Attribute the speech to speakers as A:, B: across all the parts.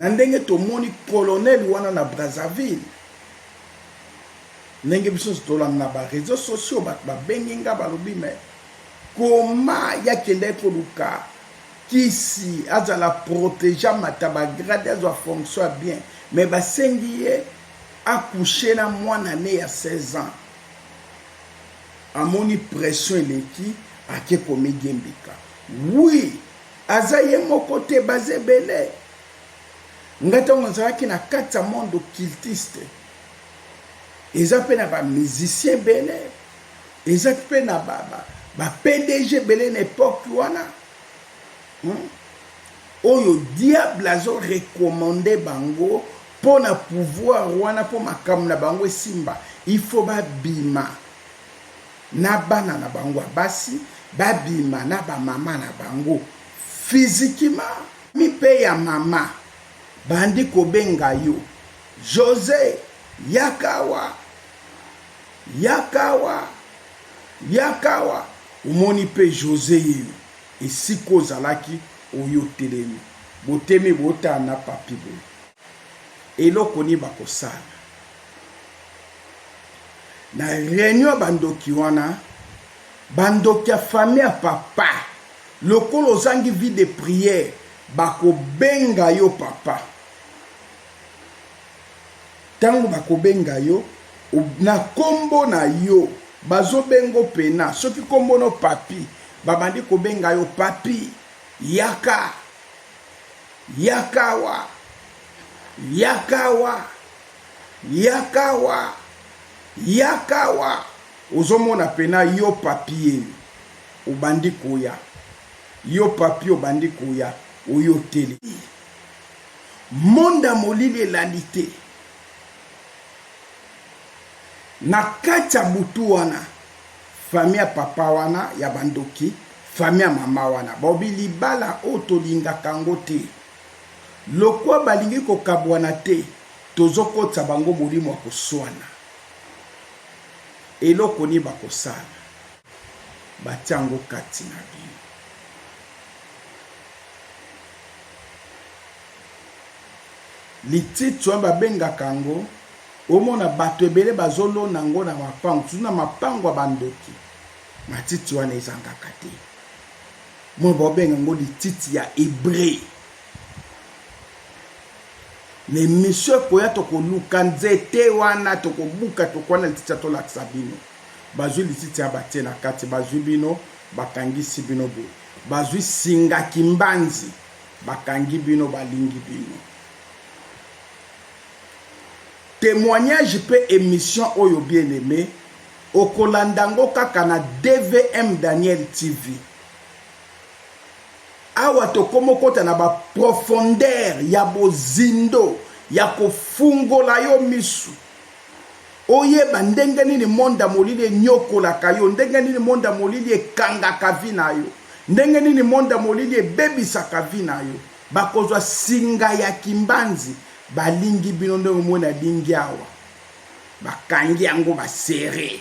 A: na ndenge tomoni colonel wana na brazzaville ndenge biso nyonso tolanda na bareseau sociaux bato babengi nga balobi me koma ye akendaki koluka kisi azala protege amata bagrade azwa fonction ya bien me basengi ye akushe na mwana ne ya 16 ans amoni pression eleki ake komigembika wi oui, Aza ye moko te baza ebele. Nga tango nazalaki na kati ya monde occultiste eza pe na ba musiciens ebele eza pe na ba, ba, ba PDG ebele na epoque wana hmm? oyo diable azo recommande bango mpo na pouvoir wana mpo makambo na bango esimba il faut babima na bana na bango ya basi babima na ba mama na bango physiquement. Ami pe ya mama bandi kobenga yo Jose yaka awa yaka awa yaka awa omoni pe Jose yeyo esika ozalaki oyo otelemi botemi botala na papy boye. Eloko nini bakosala na reunion ya bandoki wana? Bandoki ya famille ya papa, lokola ozangi vie de prière, bakobenga yo papa. Ntango bakobenga yo na kombo na yo, bazobengo pena. Soki kombo no papi, babandi kobenga yo papi, yaka. Yaka awa! Yaka awa! Yaka awa! Yaka awa! Ozomona pena yo papie obandi koya, yo papie obandi koya, oyo otele. Monde ya molili elali te. Na kati ya butu wana. Famille ya papa wana ya ba ndoki famille ya mama wana balobi libala oyo tolingaka yango te lokwa balingi kokabuana te tozokotisa bango molimo ya kosuana eloko nini bakosala batia yango kati na bino. Lititi wana babengaka yango omona bato ebele bazolona yango na mapango tutu na mapango ya bandoki matiti wana ezangaka te mwa baobenga yango lititi ya hebre na emisio ekoya tokoluka nzete wana tokobuka tokwana lititi ya tolakisa bino bazwi lititi ya batie na kati bazwi bino bakangisi bino boye bazwi singa kimbanzi Bakangi bino balingi bino. Temoignage pe emission oyo bien aime okolanda ngo kaka na DVM Daniel TV. Awa tokomi okota na ba profondeur ya bozindo ya kofungola yo misu. Oyeba ndenge nini monde ya molili enyokolaka yo, ndenge nini monde ya molili ekangaka vie na yo, ndenge nini monde ya molili ebebisaka vie na yo. Bakozwa singa ya kimbanzi, balingi bino ndenge omoni alingi awa. Bakangi yango ba serrer.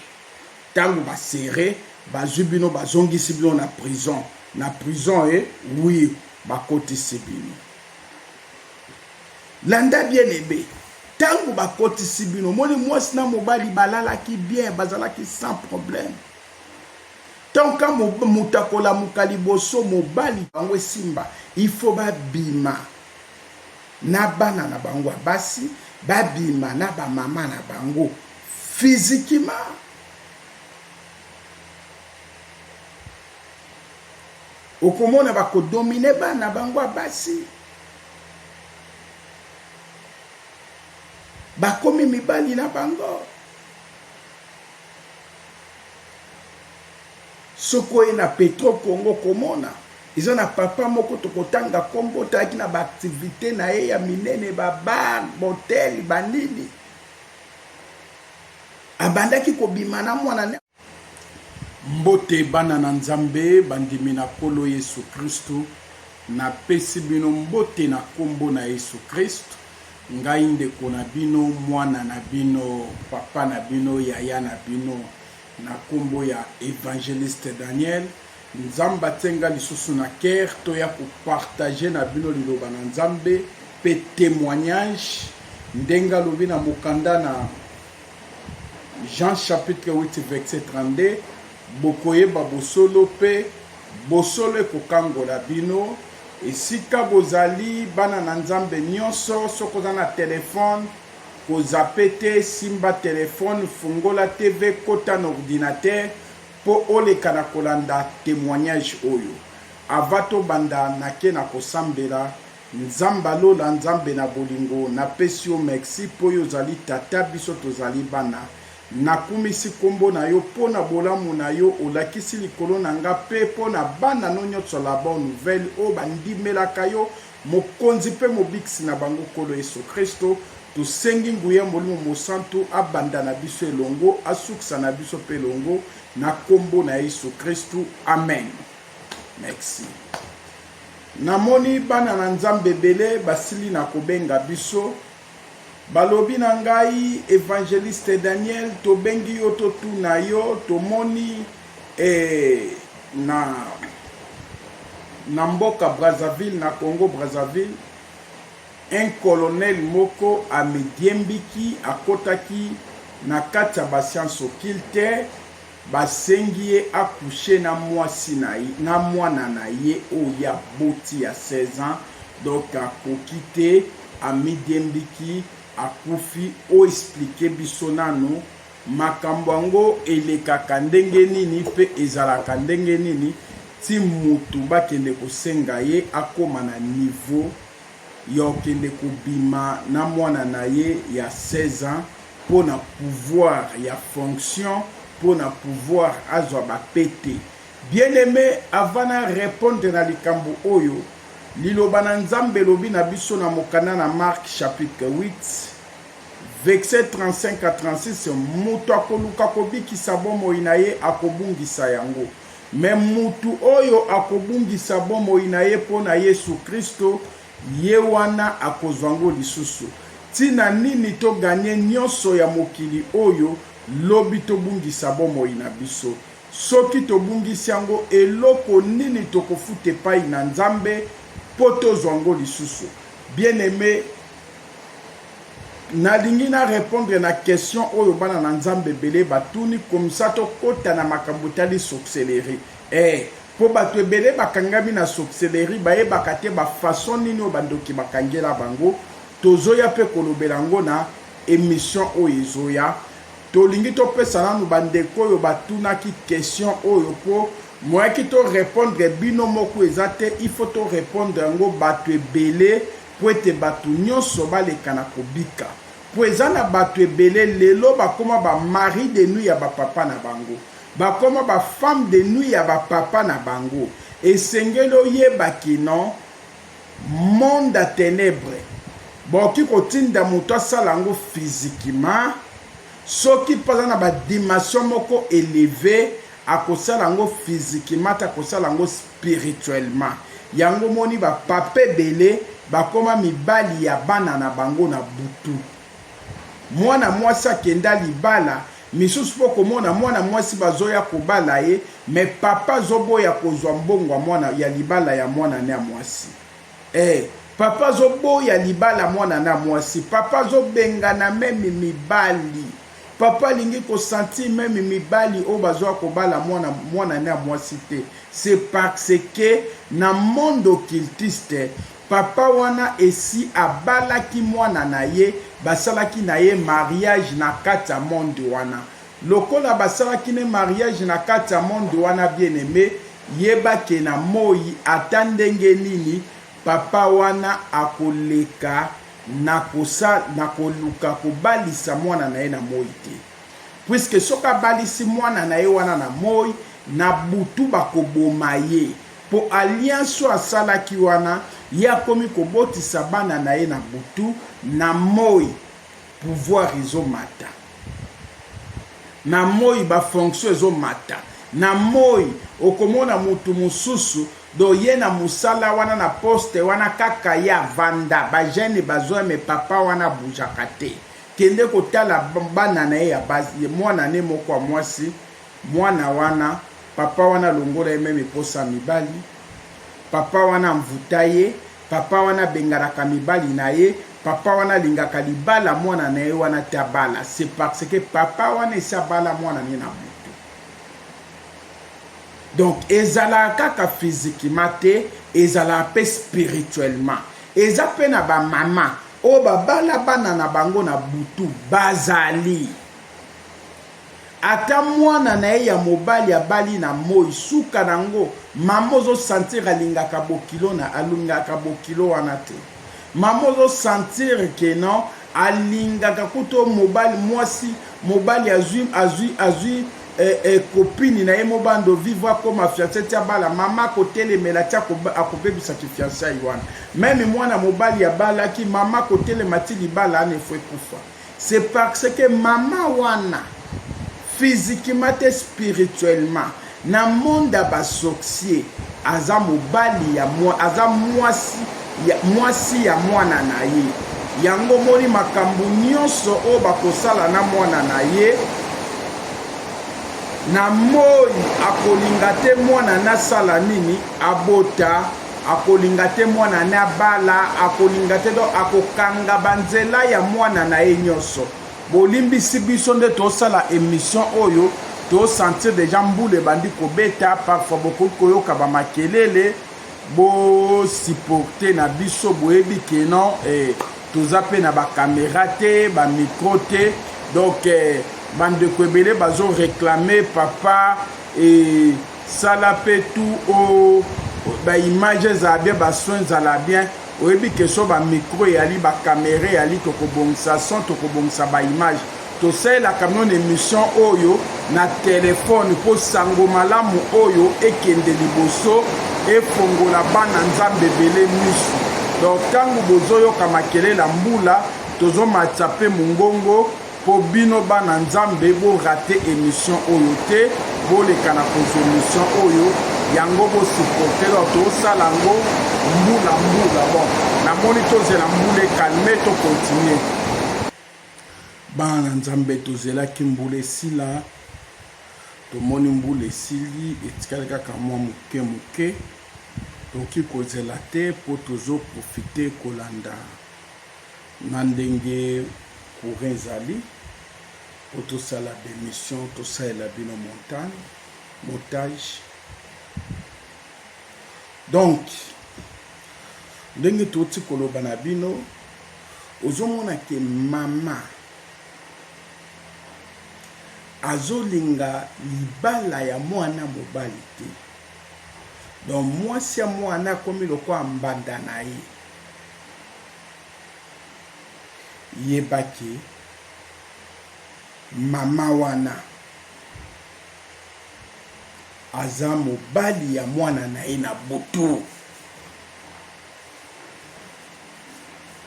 A: Tango ba serrer, bazwi bino bazongisi bino na prison. Na prison e, oui, bakotisi bino. Landa bien aime tangu bakotisi bino omoni mwasi na mobali balalaki bien bazalaki sans problème tant ka moto akolamuka liboso mobali bango esimba il faut babima na bana na bango ya basi babima na bamama na bango physiquement okomona ba ko dominer bana bango ya basi bakomi mibali na bango soki oye na petro congo komona eza na papa moko tokotanga nkombo tayaki na baaktivite na ye ya minene babar botel banini abandaki kobima na mwana Mbote bana na Nzambe bandimi na Nkolo Yesu Kristu, napesi bino mbote na nkombo na Yesu Christ, ngai ndeko na bino, mwana na bino, papa na bino, yaya na bino, na nkombo ya Evangeliste Daniel. Nzambe atie nga lisusu na cœur toya ko partager na bino liloba na Nzambe pe temoignage ndenge alobi na mokanda na Jean chapitre 8 verset 32 Bokoyeba bosolo mpe bosolo ekokangola bino. Esika bozali bana na Nzambe nyonso, soki oza na telefone kozape te, simba telefone, fungola TV, kota na ordinatere mpo oleka na kolanda temoignage oyo. Avant tobanda, nake na kosambela. Nzamba lola nzambe na bolingo na pesi yo mexi po yo zali tata biso tozali bana na kumisi kombo na yo po na bolamu na yo olakisi likolo na nga pe po na bana no nioso la bonne nouvelle oyo ba ndimelaka yo mokonzi pe mobikisi na bango nkolo yesu christo tosengi nguya molimo mosantu abanda na biso elongo asukisa na biso pe elongo na kombo na yesu christu amen mexi Namoni bana na Nzambe ebele basili na kobenga biso. Balobi na ngai, Evangeliste Daniel, tobengi yo totuna yo, tomoni eh, na, na mboka Brazzaville, na Congo Brazzaville, un colonel moko amidiembiki, akotaki na kati ya basiansi occulte, Basengi ye a coucher na mwasi na ye na mwana na ye oyo ye aboti ya 16 ans donc akoki te amidiembiki akufi o expliquer biso nanu makambo yango elekaka ndenge nini pe ezalaka ndenge nini ti mutu bakende kosenga ye akoma na niveau ya okende kobima na mwana na ye ya 16 ans mpo na pouvoir ya fonction mpo na pouvoir azwa ba pete. Bien aime avant na repondre na likambo oyo, liloba na Nzambe elobi na biso na mokanda na Marc chapitre 8 versets 35 à 36, moto akoluka kobikisa bomoi na ye akobungisa yango. Mais mutu oyo akobungisa bomoi na ye mpo na Yesu Kristo, ye wana akozwa yango lisusu. Ntina nini to gagner nyonso ya mokili oyo, lobi tobungisa bomoi na biso? Soki tobungisi yango, eloko nini tokofuta epai na Nzambe mpo tozwa yango lisusu? Bien-aime, Nalingi na repondre na question oyo bana na Nzambe ebele batuni komisa tokota na makambo etali sorcellerie. Eh, po bato ebele bakangami na sorcellerie bayebaka te ba façon nini oyo bandoki bakangela bango. Tozoya pe kolobela yango na emission oyo ezoya. Tolingi topesa nanu bandeko oyo batunaki question oyo po moyen ki to repondre bino moko eza te, il faut to repondre yango bato ebele. Mpo ete bato nyonso baleka na kobika. Mpo eza na bato ebele lelo bakoma ba maris de nuit ya ba papa na bango. Bakoma ba femmes de nuit ya ba papa na bango. Esengeli oyeba que no monde ya tenèbres bakoki kotinda moto asala yango physiquement. Soki mpe aza na ba dimensions moko elevees, akosala yango physiquement te, akosala yango spirituellement. spirituellement yango omoni ba papa ebele bakoma mibali ya bana na bango na butu mwana mwasi akenda libala misusu po komona mwana mwasi bazoya kobala ye me papa azoboya kozwa mbongo ya mwana ya libala ya mwana ne ya mwasi eh papa azoboya libala mwana na mwasi papa azobengana meme mibali Papa alingi ko sentir meme mibali oyo bazoya kobala mwana mwana ne ya mwasi te c'est parce que na monde occultiste papa wana esi abalaki mwana na ye basalaki na ye mariage na kati ya monde wana lokola basalaki ne mariage na kati ya monde wana bien aime yeba ke na moyi ata ndenge nini papa wana akoleka Nakosa, nakoluka kobalisa mwana na ye na moi te. Puisque soki abalisi mwana na ye wana na moi, na butu bakoboma ye. Po alliance oyo asalaki wana, ye akomi kobotisa bana na ye na butu, na moi pouvoir ezo mata. Na moi ba fonctions ezo mata. Na moi okomona mutu mosusu Donc ye na musala wana na poste wana kaka ye avanda ba jeune bazoya mais papa wana abujaka te kende kotala bana na ye ya basi mwana ne moko ya mwasi mwana wana papa wana alongola ye meme posa ya mibali papa wana amvuta ye papa wana abenganaka mibali na ye papa wana alingaka libala mwana na ye wana te abala c'est parce que papa wana esi abala mwana ne na moto Donc ezalaka kaka physiquement te, ezalaka pe spirituellement. Eza pe na ba mama oyo ba bala bana na bango na butu bazali. Ata mwana na ye ya mobali abali na moi suka nango mama ozo sentir alingaka bokilo na alingaka bokilo wana te. Maman ozo sentir que non alingaka kuto mobali mwasi mobali azui azui azui eh, eh, copine na ye mobando vivre akoma fiançaille ti abala mama akotelemela ti akobebisa kifiançaille wana meme mwana mobali abalaki mama akotelema ti libala ana efo ekufa C'est parce que maman wana physiquement te spirituellement na monde ya ba sorciers aza mobali ya mwa aza mwasi ya mwasi ya mwana na ye yango moni makambo nyonso oyo bakosala na mwana na ye na moi akolinga te mwana nasala nini abota akolinga te mwana ne abala akolinga te donc akokanga banzela ya mwana na ye nyonso bolimbisi biso nde tosala emission oyo tosentir deja mbula ebandi kobeta parfois bokoki koyoka bamakelele bosupporte na biso boyebi keno eh, toza mpe na bakamera te bamikro te donc eh, bandeko ebele bazoreklame papa eh, sala pe tout o ba image ezala bien ba son ezala bien oyebi ke so ba micro eyali ba camera eyali tokobongisa son tokobongisa ba image tosalelaka mino na emission oyo na telefone mpo sango malamu oyo ekende liboso efongola bana nzambe ebele misu donc ntango bozoyoka makelela mbula tozomatisa mpe mongongo Po bino bana nzambe bo rate emission oyo te boleka na kozwa emission oyo yango bo supporte donc tosala yango mbula mbula bon namoni tozela mbula ekalme to continue bana na nzambe tozelaki mbula esila tomoni mbula esili etikali kaka mwa moke moke tokoki kozela te mpo tozoprofite kolanda Na ndenge courant ezali po tosala ba emission tosalela bino montagne motage donc ndenge toti koloba na bino ozomona ke mama azolinga libala ya mwana mobali te donc mwasi ya mwana akomi lokola mbanda na ye yeba ke maman wana aza mobali ya mwana na ye na butu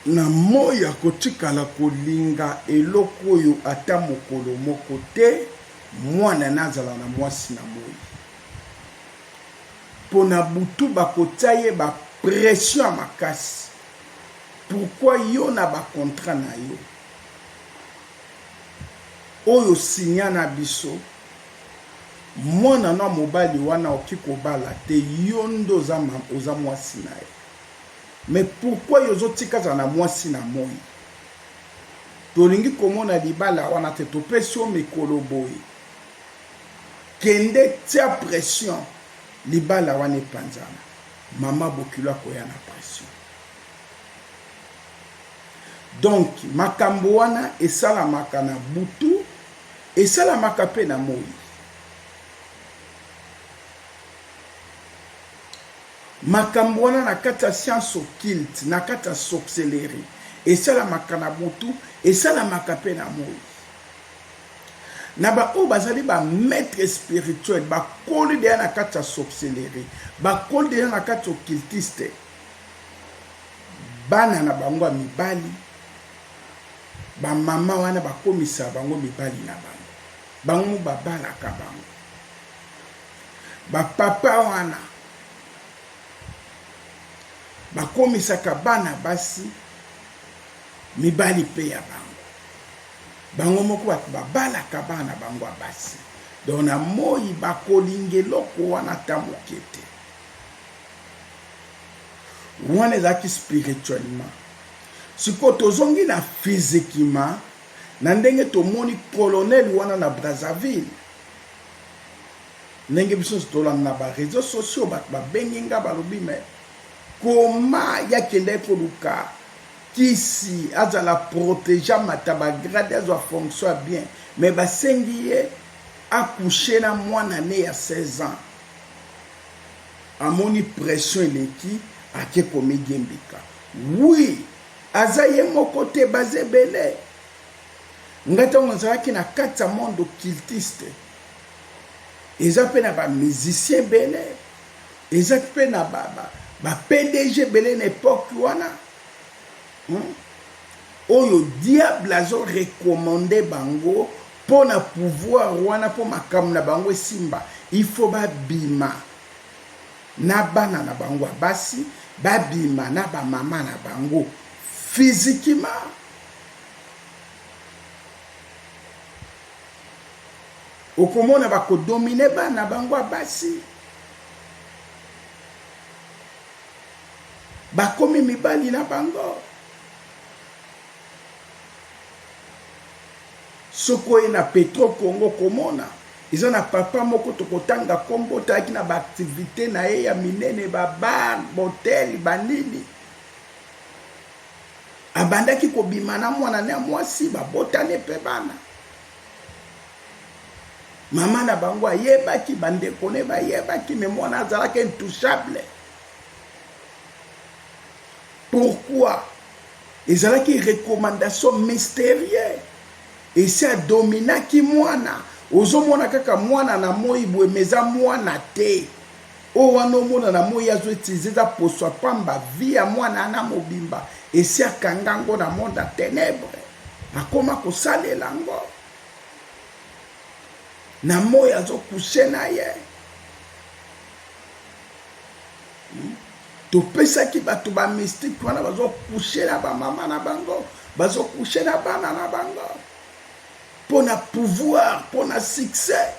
A: na moi akotikala kolinga eloko oyo ata mokolo moko te mwana nazala na mwasi na moi pona butu bakotia ye ba pression ya makasi pourquoi yo na ba contrat nayo oyo signa na biso muana no ya mobali wana oki kobala te yo nde oza oza muasi naye mais pourquoi yo ozotika azala na muasi na moi tolingi komona libala wana te topesi yo mikolo boye Kende tia pression libala wana epanzana maman bokilo akoya na pression donc makambo wana esalamaka na butu esalamaka mpe na moi makambo wana na kati ya science occulte na kati ya sorcellerie esalamaka na butu esalamaka mpe na moi na ba oyo bazali ba maitre spirituel bakoli deja na kati ya sorcellerie bakoli deja na kati ya occultiste bana na bango ya mibali bamama wana bakomisa bango mibali na bango bango mo babalaka bango bapapa wana bakomisaka bana basi mibali mpe ya bango Bango moko bato babalaka bana na bango ya basi. Donc na moyi bakolinga eloko wana ata moke te. Wana ezalaki spirituellement. Sikoyo tozongi na physiquement na ndenge tomoni colonel wana na Brazzaville. Ndenge biso nyonso tolanda na ba réseaux sociaux bato babengi nga balobi mais koma ye akendaki koluka Kisi azala protege amata ba grade azwa fonction ya bien mais basengi ye a couche na mwana ne ya 16 ans amoni pression eleki ake komidiembika oui aza ye moko te baza ebele nga ntango nazalaki na kati ya monde occultiste eza mpe na ba musicien ebele Eza pe na ba ba pdg ebele na epoque wana hum oyo diable azo recommande bango po na pouvoir wana po makambo na bango esimba il faut ba bima na bana na bango ya basi ba bima na ba maman na bango physiquement okomona ba ko dominer bana bango ya basi bakomi mibali na bango soki oye na petro congo komona eza na papa moko tokotanga nkombo tayaki na baaktivite na ye ya minene babar botel banini Abandaki kobima na mwana na ya mwasi, babotani mpe bana. Mama na bango ayebaki, bandeko ne bayebaki, me mwana azalaki intouchable. Pourquoi? Ezalaki recommandation mysterieux. Esi adominaki mwana. Ozomona kaka mwana na moi boye, me eza mwana te. Oyo wana omona na moyi azo utiliser eza poso ya pamba, vie ya mwana wana mobimba esi akanga yango na monde ya tenèbres, akoma kosalela yango na moyi azo coucher na ye. Hmm? topesaki bato bamystike wana bazokushe na bamama na bango bazokushe na bana na bango mpo na pouvoir mpo na succès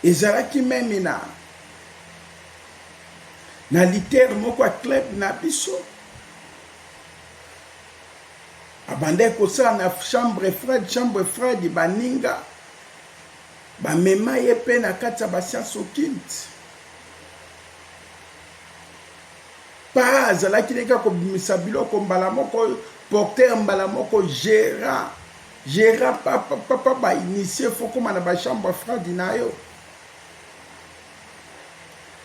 A: ezalaki meme na na litere moko ya club na biso abandaki kosala na chambre fred chambre fred baninga bamema ye mpe na kati ya basianse okinte pa azalaki ndenge kobimisa biloko mbala moko porter mbala moko gérant Gera papa papa ba initie fo koma na ba chambre ya fradi na yo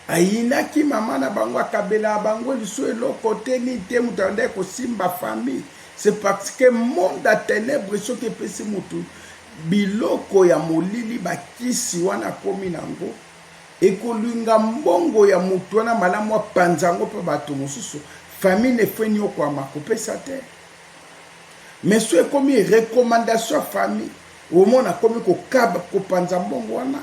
A: ayinaki mama na bango akabela bango lisu eloko te ni te moto abandaki kosimba famille c'est parce que monde ya ténèbre soki epesi motu biloko ya molili bakisi wana akomi nango ekolinga mbongo ya motu wana malamu apanza yango mpe bato mosusu famille nefo eniokwama kopesa te Mais soki ekomi recommandation ya famille, omona akomi kokaba kopanza mbongo wana.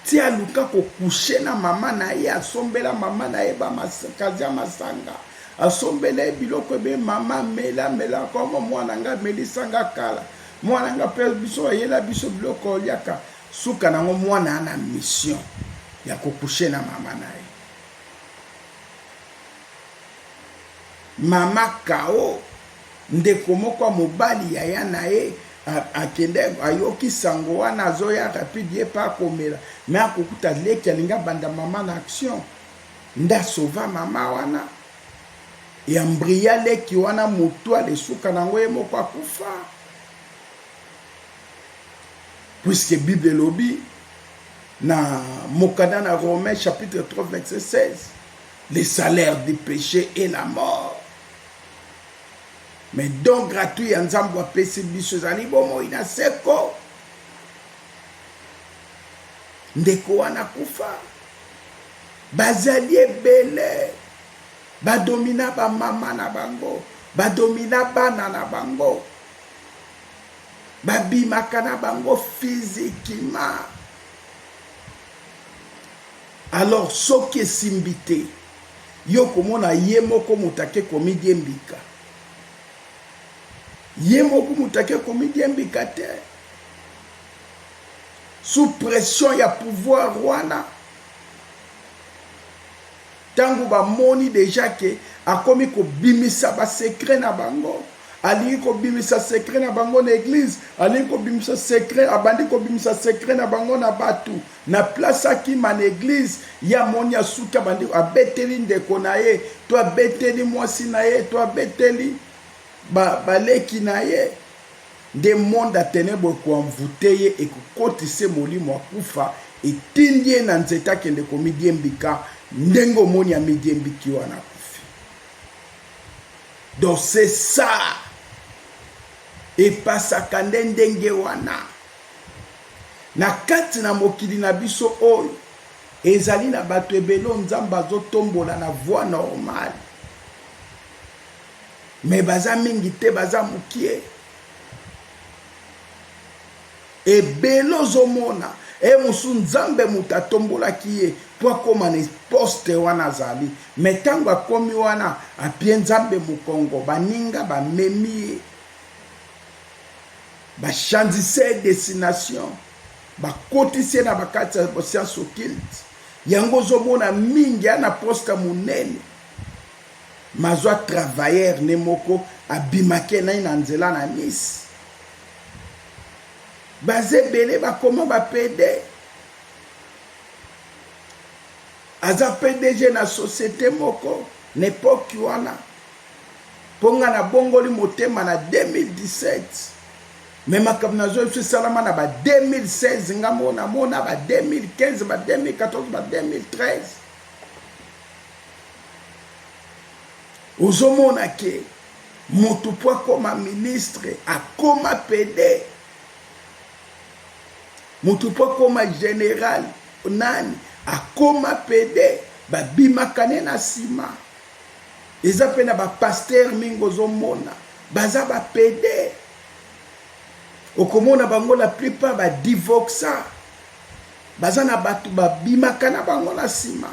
A: ti aluka kokushe na mama na ye asombela mama na ye bamakazi ya masanga asombela ye biloko ebe mama mela mela koma mwana nga amelisa nga kala mwana nga mpe biso ayela biso biloko oliaka suka nango mwana ana mission ya kokushe na mama na ye Mama Kao, ndeko moko ya mobali yaya na ye akende ayoki sango wana azoya rapide ye pa akomela me akokuta leki alingi abanda mama na action nde asova mama wana ya mbria leki wana motu alesuka na yango ye moko akufa puiske bible elobi Na mokanda na Romains chapitre 3 verset 16, le salaire du péché est la mort. Mais don gratuit ya Nzambe apesi biso ezali bomoi na seko. Ndeko wana kufa bazali ebele badomina bamama na bango badomina bana na bango babimaka na bango physiquement alors soki esimbi te yo komona ye moko moto ake komidie mbika ye moko moto ake komidie mbika te sous pression ya pouvoir wana Tangu ba moni dejà que akomi ko bimisa ba secret na bango, alingi ko bimisa secret na bango na eglise, alingi ko bimisa secret, abandi ko bimisa secret na bango na batu, na place akima na eglise, ye amoni asuki abandi abeteli ndeko na ye, to abeteli mwasi na ye, to abeteli ba leki na ye. nde monde ya tenèbres eko envouter ye ekokotisa ye molimo ya kufa etindi ye na nzete akende komidiembika ndenge omoni amidiembiki wana akufi donc c'est ça epasaka nde ndenge wana na kati na mokili na biso oyo ezali na bato ebele oyo nzambe azotombola na voie normale mais baza mingi te baza mukie ebele ozomona e mosusu nzambe moto atombolaki ye mpo akóma na poste wana azali me ntango akomi wana apie nzambe mokongo baninga bamemi ye bachanzise ye destination bakotisi ye na bakati ya science occulte yango ozomona mingi ya na poste monene Mazua travailleur ne moko abimake naye na nzela na Nice. Baza ebele bakoma ba PD. Aza PDG na societe moko na epoque wana. Mpo nga na bongoli motema na 2017. Me makambo nazwa biso esalama na ba 2016 nga mona mona ba 2015 ba 2014 ba 2013 ozomona ke motu mpo akoma ministre akoma pede motu mpo akoma general nani akoma pede babimaka ne na nsima eza mpe na bapaster mingi ozomona baza bapede okomona bango la plupart badivoxa baza na bato babimaka na bango na nsima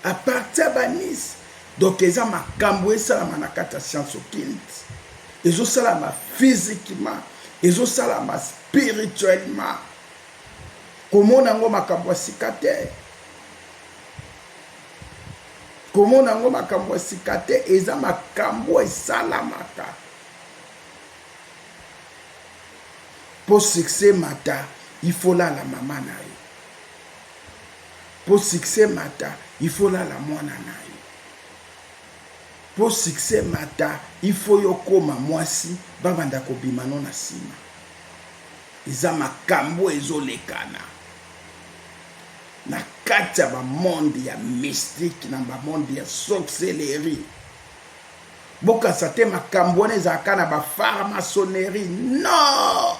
A: A partir ya ba Nice donc eza makambu esalama na kati ya science occulte ezo salama physiquement ezo salama spirituellement komona yango makambo ya sika te komona yango makambo ya sika te eza makambo esalamaka Po succès emata il faut olala maman nayo po succès emata il faut olala mwana nayo po succès emata il faut yo okoma mwasi babanda kobima no na sima eza makambu ezolekana na kati ya ba monde ya mystique na ba monde ya sorcellerie Bokanisa te makambo wana ezalaka na ba pharmaçonnerie non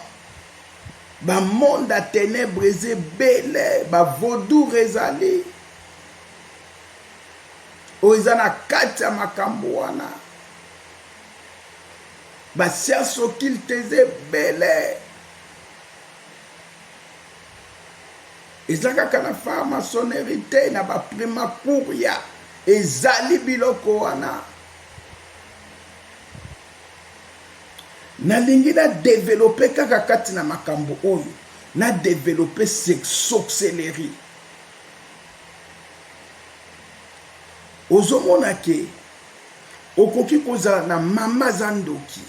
A: ba monde ya tenebre eza ebele ba vaudour ezali oyo eza na kati ya makambo wana ba science occulte eza ebele Eza kaka na pharmaconneri te na ba primacuria ezali biloko wana nalingi na develope kaka kati na makambo oyo na develope sorcellerie ozomona ke okoki kozala na mama aza ndoki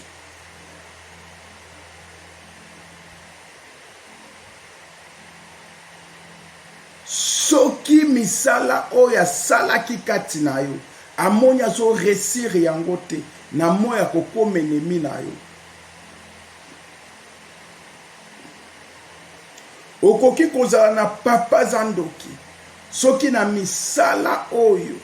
A: Soki misala oyo asalaki kati na yo, amoni azo reussir yango te, na moi akokoma ennemi na yo. Okoki kozala na papa aza ndoki, soki na misala oyo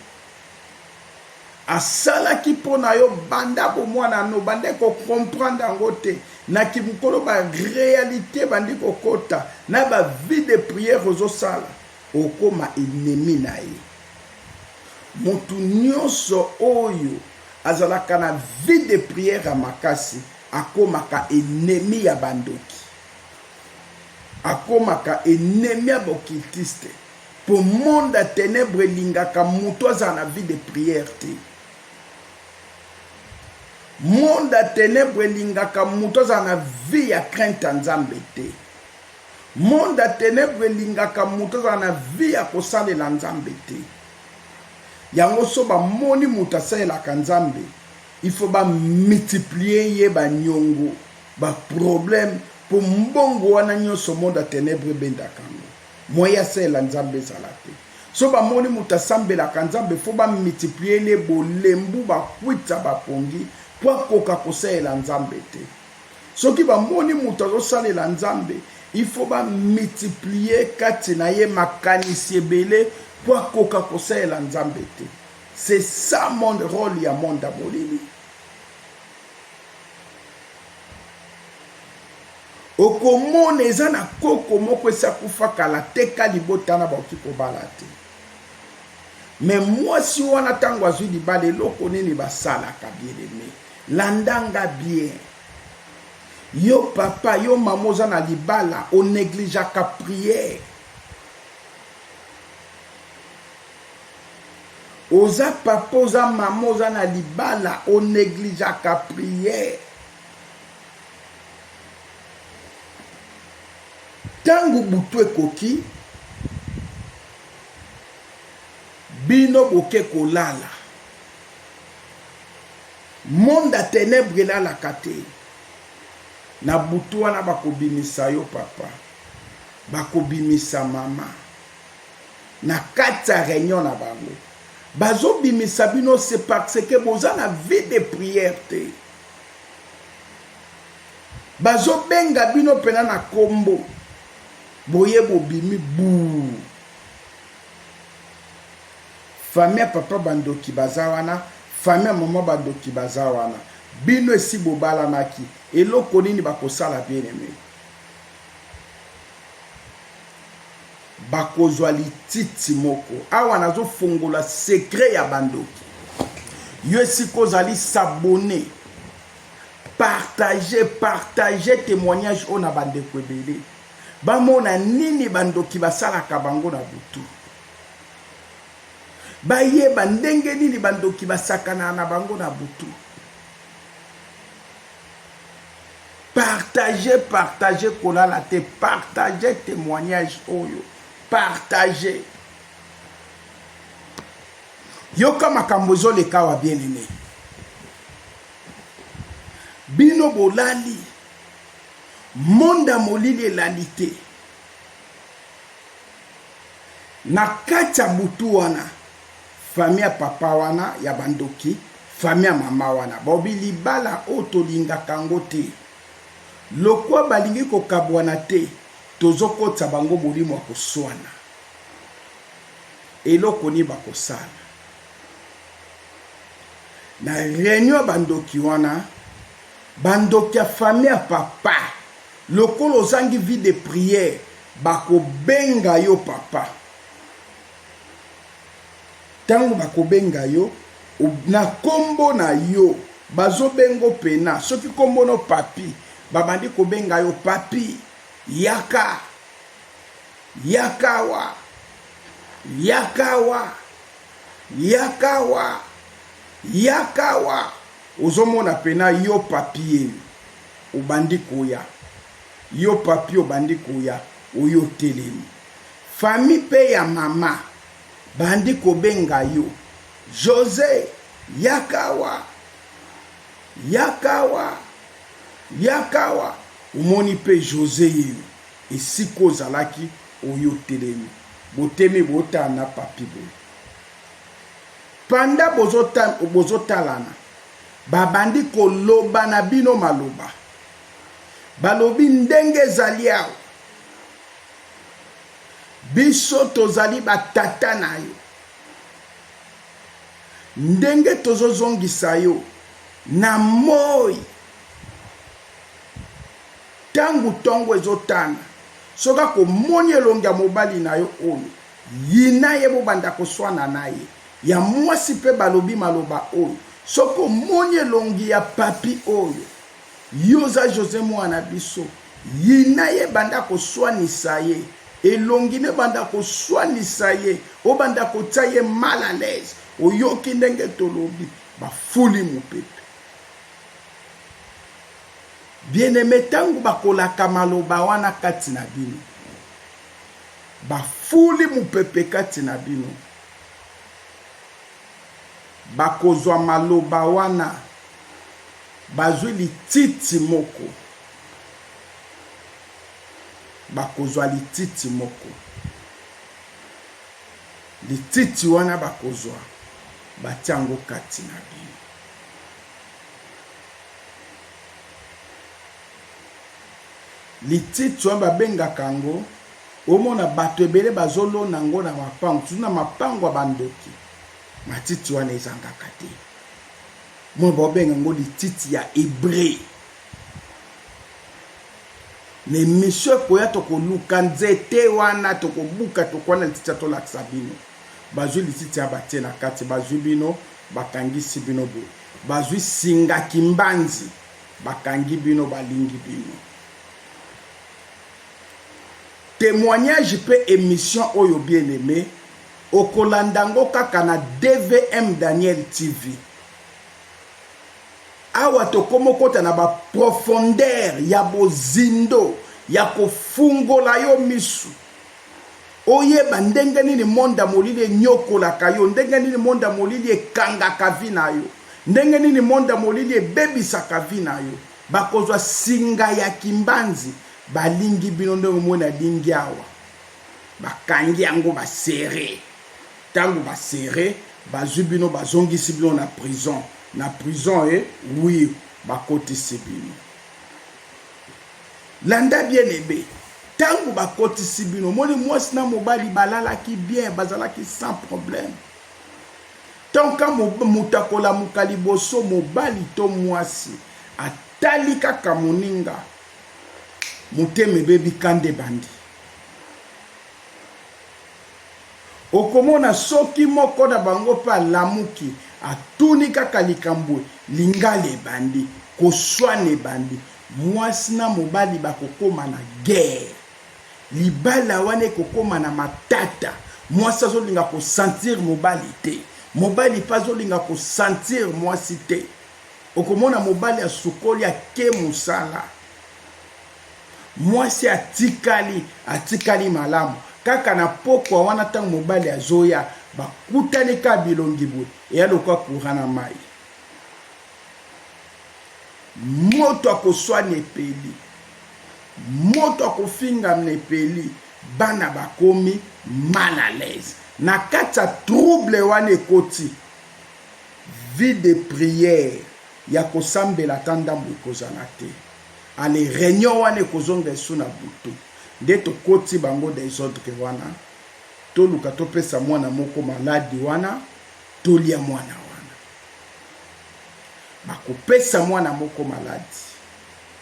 A: Asalaki mpo na yo banda bomwana no, banda ko comprendre yango te. Na kimokolo ba realite bandi kokota na ba vie de prière ozosala, okoma ennemi na ye. Motu nyonso oyo azalaka na vie de prière ya makasi akomaka ennemi ya bandoki, akomaka ennemi ya bokiltiste. Po monde ya tenèbres elingaka mutu azala na vie de prière te. Monde ya tenèbres elingaka mutu azala na vie ya crainte ya Nzambe te. Monde ya tenèbres elingaka mutu azala na vie ya kosalela Nzambe te. Yango so ba moni mutu asalelaka Nzambe, il faut ba multiplier ye ba niongo, ba problèmes po mbongo wana nionso monde ya tenèbres ebendaka. Moyen ya salela Nzambe ezala te. Soki ba moni mutu asambelaka Nzambe faut ba multiplier ye bolembu ba kwuita ba pongi po akoka kosalela Nzambe te. Soki ba moni mutu azo salela Nzambe il faut ba multiplier kati na ye makanisi ebele po akoka kosalela Nzambe te. C'est ça mon role ya monde ya molili. okomona eza na koko moko esi akufa kala te ka libota na bakoki kobala te me mwasi wana ntango azwi libala eloko nini basalaka bieleme landanga bien yo papa yo mama oza na libala onegligeaka priere Oza papa oza maman oza na libala o negligeaka prière tangu butu ekoki bino boke kolala monde ya tenebre elalaka te na butu wana bakobimisa yo papa bakobimisa mama Na kati ya reunion na bango bazo bimisa bino c'est parce que boza na vie de prière te. Bazo benga bino pena na kombo boye bobimi buu. Famille ya papa bandoki baza wana, famille ya mama bandoki baza wana. Bino esi bobalanaki, eloko nini bakosala bien aimé? bakozwa lititi moko awa nazofongola sekre ya bandoki yo esika ozali sabone partage partage témoignage oyo na bandeko ebele bamona nini bandoki basalaka bango na butu bayeba ndenge nini bandoki basakanaka na bango na butu Partage partage kolala te partage temoignage oyo partage yoka makambo ezoleka awa bien aime bino bolali monde ya molili elali te na kati ya butu wana Famille ya papa wana ya ba ndoki famille ya mama wana balobi libala oyo tolingaka yango te lokwa balingi kokabwana te tozokotisa bango molimo ya koswana eloko nini bakosala na reunion ya bandoki wana bandoki ya famille ya papa lokola ozangi vie de prière bakobenga yo papa tangu bakobenga yo na kombo na yo bazobengo pena soki kombo no papy babandi kobenga yo papy yaka yakawa yakawa yakawa yakawa ozomona pena yo papye obandi koya yo papy obandi koya oyo otelemi Famille pe ya mama bandi kobenga yo Jose yaka awa yaka awa yaka awa omoni pe Jose yeyo esika ozalaki oye otelemi botemi botala na papi boye panda bozotalana babandi koloba na bino maloba balobi ndenge ezali awa Biso tozali ba tata na yo. Ndenge tozo zongisa yo na moyi tangu tongo ezo tana soki ako moni elongi ya mobali na yo oyo yina ye bo banda ko swana na ye. Ya muasi pe balobi maloba oyo soki omoni elongi ya papy oyo Yo oza Jose muana biso. Yina ye banda kosuanisa ye elongi ne banda kosuanisa ye obanda kotia ye mal à l'aise oyoki ndenge tolobi ba fuli mupepe bien aime tangu bakolaka maloba wana kati na bino ba fuli mupepe kati na bino bakozwa maloba wana Bazwi lititi moko. Bakozwa lititi moko. Lititi wana bakozwa, batia yango kati na bino. Lititi wana babengaka yango, omona bato ebele bazolona yango na mapango, tutu na mapango ya bandoki. Matiti wana ezangaka te. Moi bao benga yango lititi ya ebre. Na emission ekoya tokoluka nzete wana tokobuka tokoya na lititi ya tolakisa bino. Bazwi lititi ya batie na kati bazwi bino bakangisi bino boye. Bazwi singa kimbanzi bakangi bino balingi bino. Temoignage pe emission oyo bien aime okolanda yango kaka na DVM Daniel TV. awa tokoma okota na baprofondere ya bozindo ya kofungola yo misu oyeba ndenge nini monde ya molili enyokolaka yo ndenge nini monde ya molili ekangaka vi na yo ndenge nini monde ya molili ebebisaka vi na yo bakozwa singa ya kimbanzi balingi bino ndenge omoi na lingi awa bakangi yango basere Tangu ba serre bazui bino bazongisi bino na prison na prison he oui bakotisi bino landa bien ebe tangu bakotisi bino omoni muasi na mobali balalaki bien bazalaki sans problème tant ka moto akolamuka liboso mobali to muasi atali kaka moninga motema ebebi kanda ebandi Okomona soki moko na bango pe alamuki, atuni kaka likambo, lingala ebandi, koswana ebandi, mwasi na mobali bakokoma na guerre, libala wana ekokoma na matata, mwasi azolinga ko sentir mobali te, mobali pe azolinga ko sentir mwasi te, okomona mobali asukoli ake mosala, Mwasi atikali, atikali malamu. Kaka na pokwa wana tango mobali azoya, bakutani kaka bilongi boye, eya lokola courant na mayi. Moto akoswana epeli, moto akofingamna epeli, bana bakomi mal à l'aise. Na kati ya trouble wana ekoti, vie de prière ya kosambela ata ndambu ekozala te. Allez reunion wana ekozonga esu na butu nde tokoti bango desordre wana toluka topesa mwana moko maladi wana tolia mwana wana bakopesa mwana moko maladi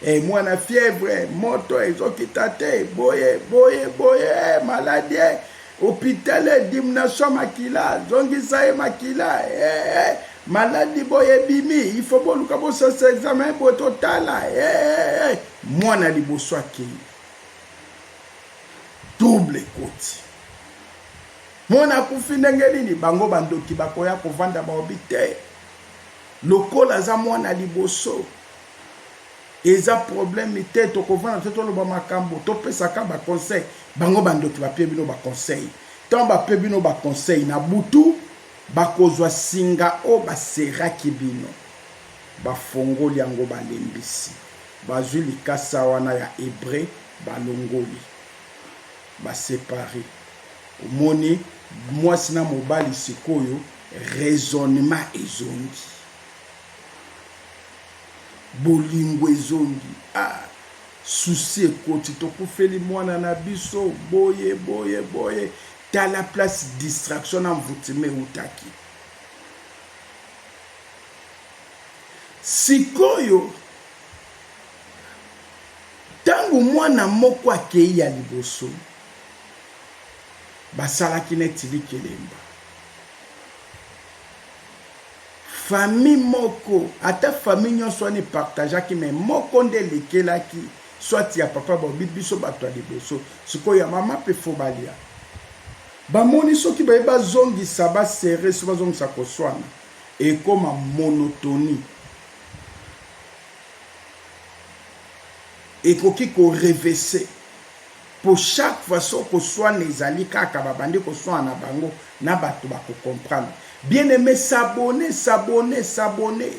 A: e mwana fièvre moto ezokita te boye boye boye eh, maladi eh, hôpital dimnation makila zongisa ye makila e, e. Maladi boye ebimi il faut boluka bosasa examen boye totala hey, eh, eh, hey, eh, hey. mwana liboso akei double ekoti mwana akufi ndenge nini bango bandoki bakoya kovanda baobi te lokola aza mwana liboso eza probleme te tokovanda te toloba makambo topesaka baconseil bango bandoki bape bino baconseil ntango bape bino baconseil na butu Bakozwa singa oyo baseraki bino. Bafongoli yango balembisi. Bazwi likasa wana ya Ebre, balongoli. Ba separer. Omoni, mwasi na mobali sikoyo raisonnement ezongi. Bolingo ezongi. Ah! Souci ekoti, tokufeli mwana na biso, boye, boye, boye. Tala place distraction na envoutement ewutaki. Sikoyo ntango mwana moko akei ya liboso basalaki neti likelemba famille moko ata famille nyonso wana epartageaki me moko nde elekelaki soit ya papa bobi biso bato ya liboso sikoyo ya mama pe fo balia bamoni soki baye bazongisa basere so bazongisa koswana ekoma monotonie ekoki korevese mpo chaque fois so koswana ezali kaka babandi koswana na bango na bato bakocomprendre bien aime sabone sabone sabone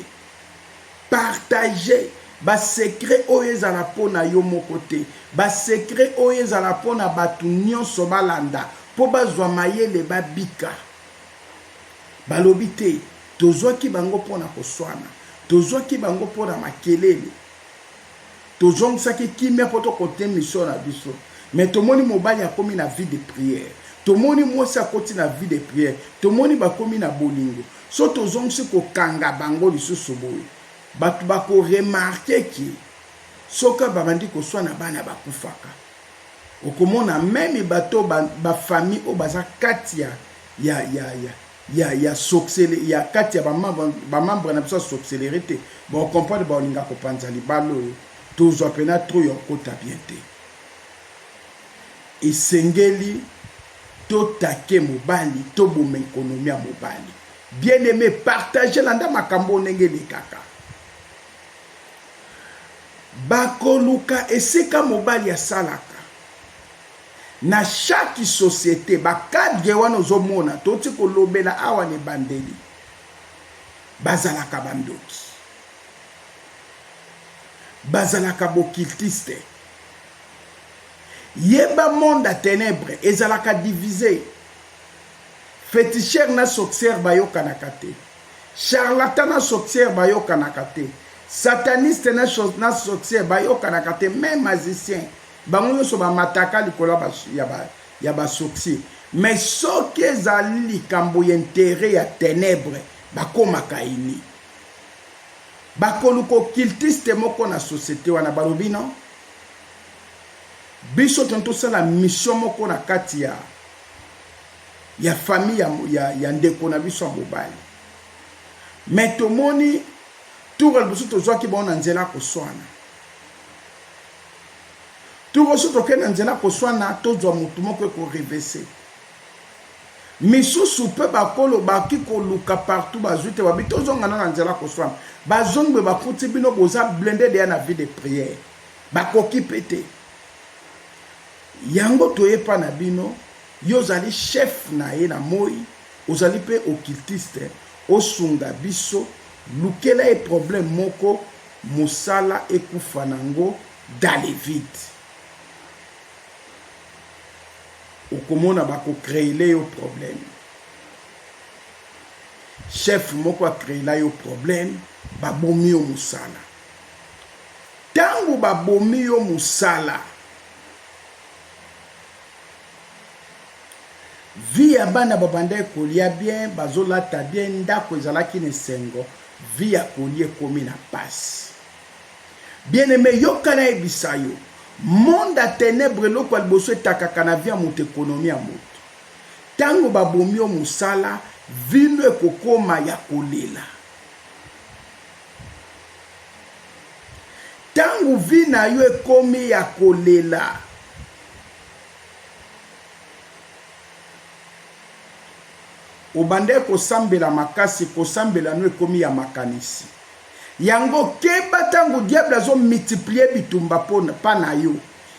A: Partage ba secret oyo ezala po na yo moko te. Ba secret oyo ezala po na batu nionso balanda po bazwa mayele babika. Balobi te tozwaki bango po na koswana, tozwaki bango po na makelele. tozongisaki kimia po tokote mission na biso mais tomoni mobali akomi na vie de prière tomoni mwasi akoti na vie de prière tomoni bakomi na bolingo so tozongisi kokanga bango lisusu boye bato bako remarke ke soki babandi koswana bana bakufaka okomona meme bato ba, ba famille oyo baza kati ya, ya, ya, ya ya ya soxele ya kati ya bamambre na biso ya soxelere te baocomprendre baolinga kopanza libala oyo tozwa mpena tro ya okota bien te esengeli totake mobali toboma ekonomi ya mobali bien aime partage landa makambo oyo ndenge elekaka bakoluka esika mobali asalaka Na chaque societe ba cadre wana ozo mona toti ko lobela awa na ebandeli ba zalaka ba ndoki. Ba zalaka b'occultiste. Yeba monde ya tenebre ezalaka divise. Feticheur na sorcière ba yokanaka te. Charlatan na sorcière ba yokanaka te. Sataniste na, na sorcière ba yokanaka te. Même magicien bango nyonso bamataka likolo ya basourcil mais soki ezali likambo ya intere ya tenebre bakomaka ini bakoluka occultiste moko na societe wana balobi no biso toni tosala mission moko na kati ya ya famille ya, ya, ya ndeko na biso ya mobali me tomoni tour ya liboso tozwaki bango na nzela koswana Turo so tokei na nzela koswana tozwa motu moko eko revese misusu pe bakolo baki koluka partout bazwi te babi tozonga na na nzela koswana bazongi boye bakuti bino boza blende deya na vie de prière bakoki pe te yango toye pa na bino yo ozali chef na ye na moi ozali pe occultiste osunga biso lukela ye problème moko Mosala ekufa na ngo dans le vide. Okomona ba ko creele yo problème. Chef moko a creela yo problème, ba bomi yo mosala. Tango ba bomi yo mosala, vie ya bana babandaki kolia bien, bazolata bien, ndako ezalaki na esengo. Vie ya Connie ekomi na pasi. Bien aime yoka nayebisa yo monde ya tenebre eloko ya liboso etakaka na vie ya moto ekonomi ya moto ntango babomi yo mosala vino ekokoma ya kolela ntango vi na yo ekomi ya kolela Obandaki kosambela makasi, kosambela no ekomi ya makanisi. Yango keba tango diable azo multiplier bitumba po pa na yo.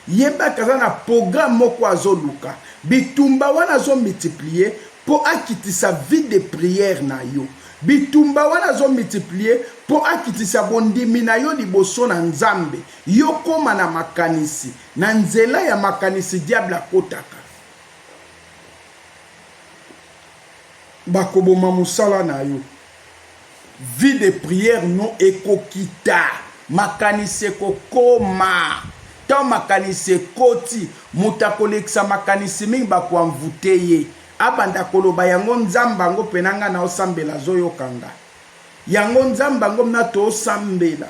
A: Yeba ke aza na programme moko azo luka. Bitumba wana azo multiplier po akitisa vie de prière na yo. Bitumba wana azo multiplier po akitisa bondimi na yo liboso na Nzambe. Yo koma na makanisi. Na nzela ya makanisi diable akotaka. Bakoboma musala na yo. Vie de prière no ekokita. Makanisi ekokoma. Tango makanisi ekoti, moto akolekisa makanisi mingi bako envoute ye. Abanda koloba yango Nzambe yango mpe na nga nao sambela azoyoka nga. Yango Nzambe yango mna too sambela.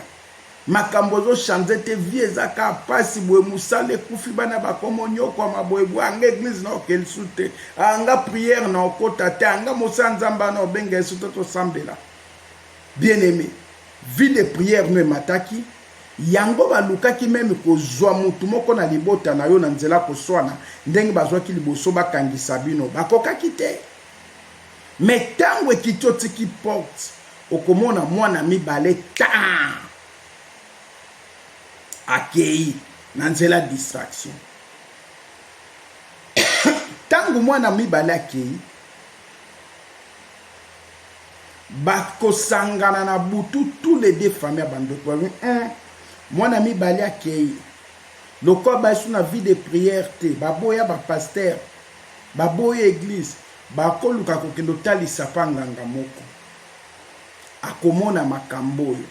A: Makambo ezo change te vie eza ka pasi boye musala ekufi bana bakomo nyokwama boye boye anga eglise na okeli su te anga prière na okota te anga mosala nzambe ana obenga yesu to tosambela bien aimé vie de prière no emataki yango balukaki meme kozwa mutu moko na libota na yo na nzela koswana ndenge bazwaki liboso bakangisa bino bakokaki te me ntango ekiti otiki porte okomona mwana mibale taa akei na nzela distraction ntango mwana mibale akei bakosangana na butu tous les deux famille ya bandoki babi un mwana mibale akei lokola bayesu na vie de prière te baboya bapaster baboya eglise bakoluka kokende otalisa mpa nganga moko akomona makambo oyo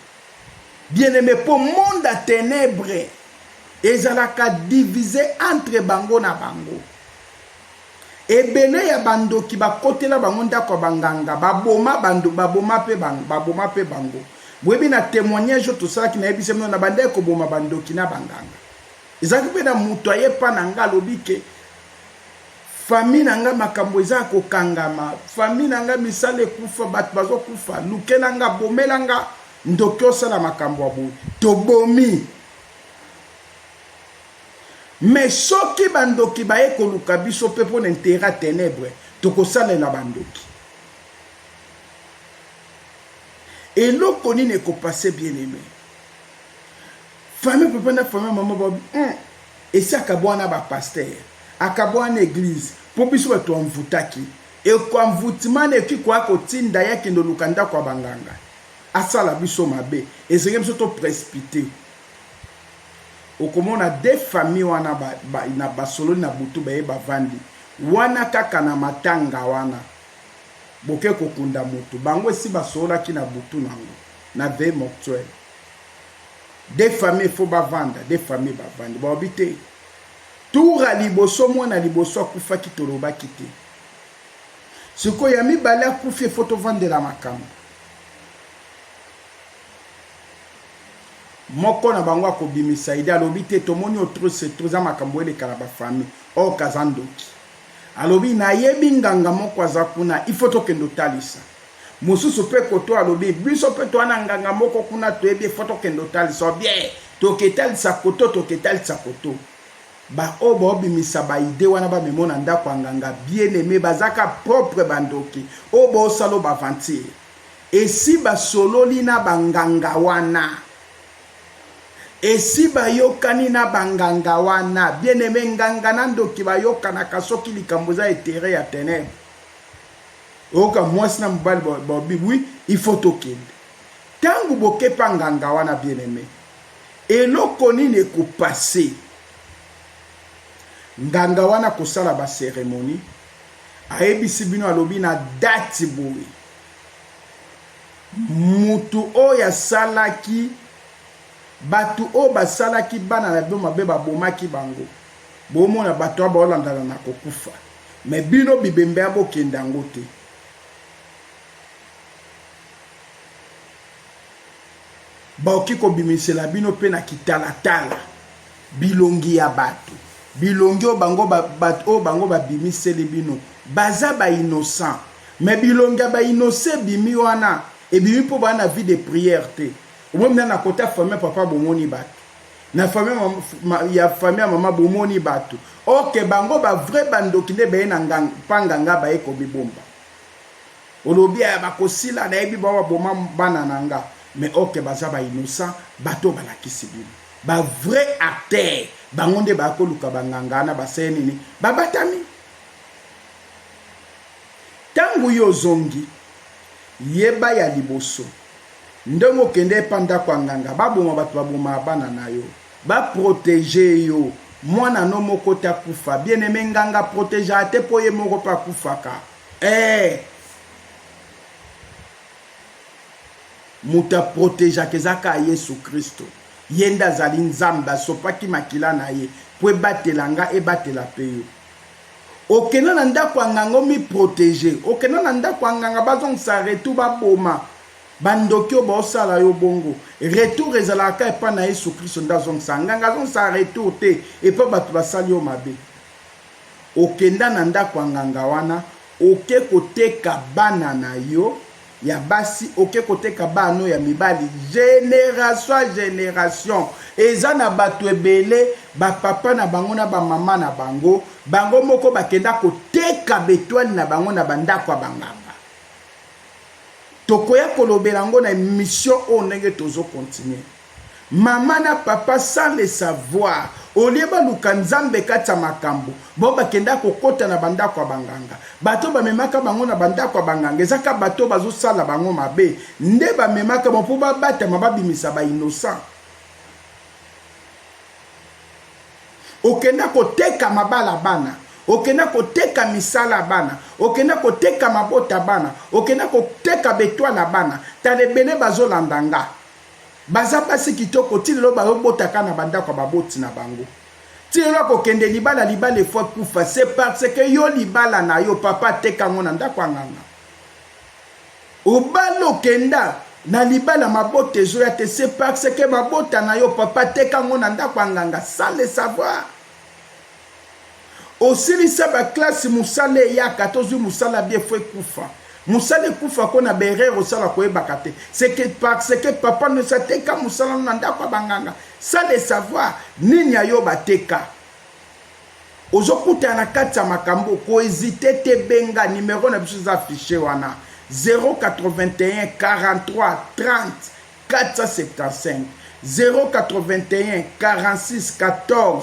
A: bien-aime mpo monde ya tenebre ezalaka divise entre bango na bango ebele ya bandoki bakotela bango ndako ya banganga baboma bando baboma mpe bango baboma mpe bango boyebi na témoignage oyo tosalaki nayebisa bino na bandaki koboma bandoki na banganga ezalaki mpe na moto aye mpa na nga alobi ke Famille na nga makambo eza ya kokangama famille na nga misala ekufa batu bazo kufa lukela nga bomela nga ndoki osala makambo ya boye tobomi mais soki bandoki baye koluka biso mpe mpo na intere ya tenebre tokosalela bandoki eloko nini ekopase bien aime Famille papa na famille maman ba hum, esi akabwana na ba pasteur, akabwana na eglise mpo biso bato ya envoutaki eko envoutement ekoki koya kotinda ye akende oluka ndako ya banganga asala biso mabe, ezenge biso to precipite okomona de famille wana ba, ba, na basololi na butu baye bavandi wana kaka na matanga wana boke kokunda moto bango esi basololaki na butu nango na veye mortuel de famille fo bavanda de famille bavandi baobi te tura liboso mwana liboso akufaki tolobaki te sikoyo ya mibale akufi efo tovandela makambo moko na bango akobimisa ide alobi te tomoni otrose to eza makambo eleka na bafamille oyo kaza ndoki Alobi nayebi nganga moko aza kuna il faut tokende otalisa mosusu mpe koto alobi biso mpe toa na nganga moko kuna toyebi il faut tokende otalisa obie toketalisa koto toketalisa koto baoyo baobimisa baide wana bamemo na ndako ya nganga bien aime bazaka propre bandoki oyo baosala baventure esi basololi na banganga wana Esi bayokani na ba nganga wana. Bien aime nganga na ndoki bayokanaka soki likambo eza etere ya tenèbres. Oyoka mwasi na mobali babi oui il faut tokende. Tango bokepa nganga wana bien aime. Eloko nini ekopase? Nganga wana kosala ba ceremonie ayebisi bino alobi na date boye Mutu oyo asalaki batu oyo basalaki bana na bino mabe babomaki bango bomona batu wana baolandana na kokufa mais bino bibembe ya bokende yango te. Bakoki kobimisela bino mpe na kitalatala bilongi ya bato, bilongi oyo bango bato oyo bango babimiseli bino baza ba innocent, mais bilongi ya ba innocent ebimi wana ebimi mpo baa na vie de prière te. Omoni na nakota famille papa bomoni bato na famille ya famille ya mama bomoni bato ok bango ba vrai bandoki nde baye na ngang, pa nganga baye komibomba Olobi aya bakosila nayebi bao baboma bana na nga mais ok baza ba innocent batu oyo balakisi bino ba vrai acteur bango nde baya koluka ba nganga wana basaya nini babatami tangu yo ozongi yeba ya liboso ndenge okende epa ndako ya nganga baboma batu baboma bana na yo ba proteger yo mwana no moko te akufa bien aime nganga protegeaka te po ye moko pe akufaka Eeh moto a protegeaka eza kaka Yesu Kristo. Ye nde azali Nzambe, asopaki makila na ye mpo ebatela nga, ebatela mpe yo. Okenda na ndako ya nganga omi protege, okenda na ndako ya nganga bazongisa retour baboma bandoki oyo baosala yo bongo. Retour ezalaka kaka epai na Yesu Kristo nde azongisa. Nganga azongisa retour te epai bato basali yo mabe. okenda na ndako ya nganga wana oke koteka bana na yo ya basi oke koteka bana no ya mibali generation a generation eza na bato ebele bapapa na bango na bamama na bango bango moko bakenda koteka betwale na bango na bandako ya banganga tokoya kolobela yango na emission oyo ndenge tozo continuer Maman na papa sans le savoir au lieu baluka nzambe kati ya makambo bango bakendaka kokota na ba ndako ya ba nganga bato oyo bamemaka bango na ba ndako ya ba nganga eza kaka bato oyo bazo sala bango mabe nde bamemaka bango po babatama babimisa ba innocent okenda koteka mabala bana okenda koteka misala ya bana okenda koteka mabota bana okenda koteka betoile ya bana tala ebele bazolanda nga Baza basi kitoko ti lelo bayo bota ka na ba ndako ya ba boti na bango. Ti lelo ako kende libala libala il faut akufa c'est parce que yo libala na yo papa ateka ngo na ndako ya nganga. Obali okenda na libala mabota ezoya te c'est parce que ba bota na yo papa ateka ngo na ndako ya nganga sans le savoir. Osilisa ba classe musala eyaka tozui musala bien faut ekufa musala ekufa ko na ba erreur osala koyebaka te c'est que parce que papa ndosi ateka musala no na ndako ya banganga sans le savoir nini ayo bateka ozokutana na kati ya makambo kohésite te benga numero na biso eza affiche wana 081 43 30 475 081 46 14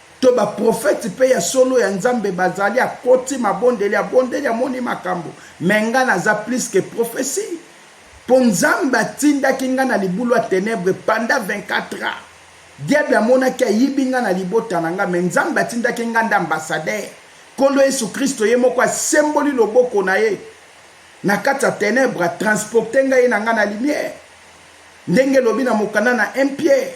A: to ba prophète pe ya solo ya nzambe bazali akoti mabondeli abondeli amoni makambo mais nga naza plus que prophetie po nzambe atindaki nga na libulu ya tenebre panda 24 ans diable amonaki ayibi nga na libota na nga mais nzambe atindaki nga nde ambassadeur kolo yesu kristo ye moko asemboli loboko na ye na kati ya tenebre atransporte ngai na ngai na lumière ndenge elobi na mokanda na 1 pierre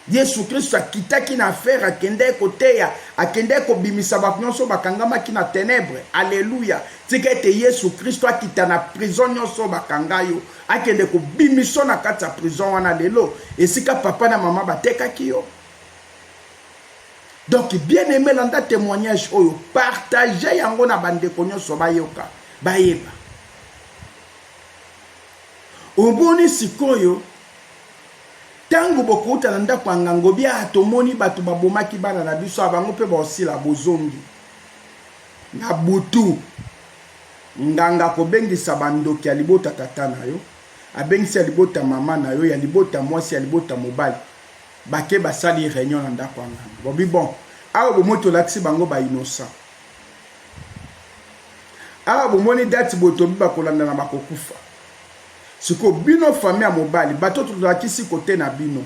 A: Yesu Klisto akitaki na affaire, akendeki koteya, akendeki kobimisa bato nionso bakangamaki na tenèbres. Alleluia! Tika ete Yesu Klisto akita na prison nionso oyo bakanga yo, akende kobimisa yo na kati ya prison wana lelo, esika papa na maman batekaki yo. Donc bien aime landa temoignage oyo, partager yango na bandeko nionso bayoka, bayeba. Omoni sikoyo tangu bokouta na ndako ya nganga obi ah tomoni batu babomaki bana na biso ah bango pe baosila bozongi na butu nganga akobengisa bandoki ya libota tata na yo abengisi ya libota mama na yo ya libota mwasi ya libota mobali bake basali reunion na ndako ya nganga bobi bon awa bomoi tolakisi bango ba innocent awa bomoni dati boye tobi bakolandana bakokufa siko bino fami ya mobali bato tolakisi kote na bino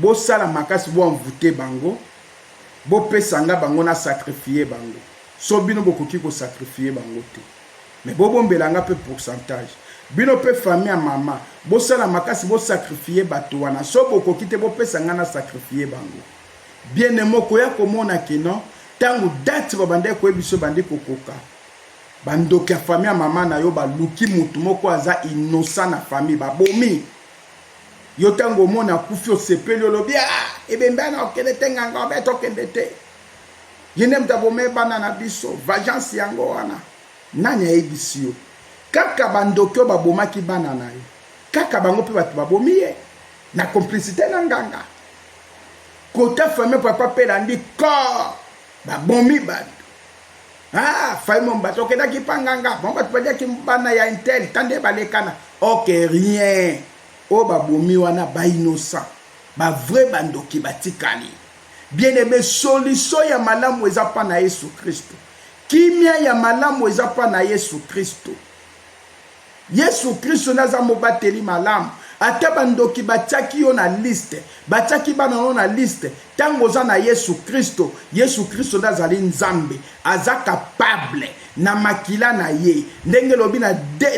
A: bosala makasi boanvute bango bopesa nga bango na sakrifie bango so bino bokoki kosakrifie bango te me bobombela nga mpe pourcentage bino mpe fami ya mama bosala makasi bosakrifie bato wana so bokoki te bopesa nga na sakrifie bango Bien aime okoya komona que non tango date babandaki koyebi biso ebandi kokoka bandoki ya famille ya mama na yo baluki motu moko aza innocent na famille babomi yo ntango omona akufi osepeli olobi a ah, ebembe ana okende te nganga obe tokende te ye nde moto abome bana na biso vagence yango wana nani ayebisi yo kaka bandoki oyo babomaki bana na yo kaka bango mpe bato babomi ye na complicité na nganga Kota famille papa pe landi corps babomi bato ah fai mombasa okendaki mpa nganga bango bato baliaki bana ya intel ta nde balekana ok rien oyo babomi wana bainnocent bavrai bandoki batikali bien ebe soliso ya malamu eza mpa na yesu kristo kimia ya malamu eza mpa na yesu kristo Yesu Kristo nde aza mobateli malamu. Ata ba ndoki batiaki yo na liste, batiaki bana na yo na liste, tango oza na Yesu Kristo, Yesu Kristo nde azali Nzambe. Aza capable na makila na ye. Ndenge elobi na,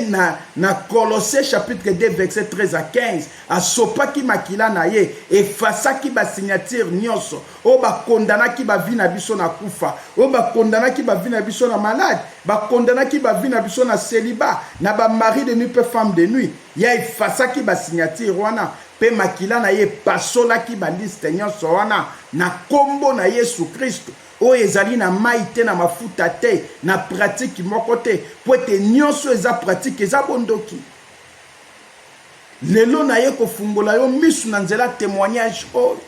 A: na, na Colosse chapitre 2 verset 13 à 15, asopaki makila na ye, efasaki ba signature nionso. oyo bakondanaki bavi na biso na kufa oyo bakondanaki bavi na biso na malade bakondanaki bavi na biso na celiba na bamari de nuit mpe femme de nuit ya efasaki basignatire wana mpe makila na ye epasolaki baliste nyonso wana na nkombo na yesu kristo oyo ezali na mai te na mafuta te na pratike moko te mpo ete nyonso eza pratike eza bondoki lelo na ye kofungola yo misu na nzela témoignage oyo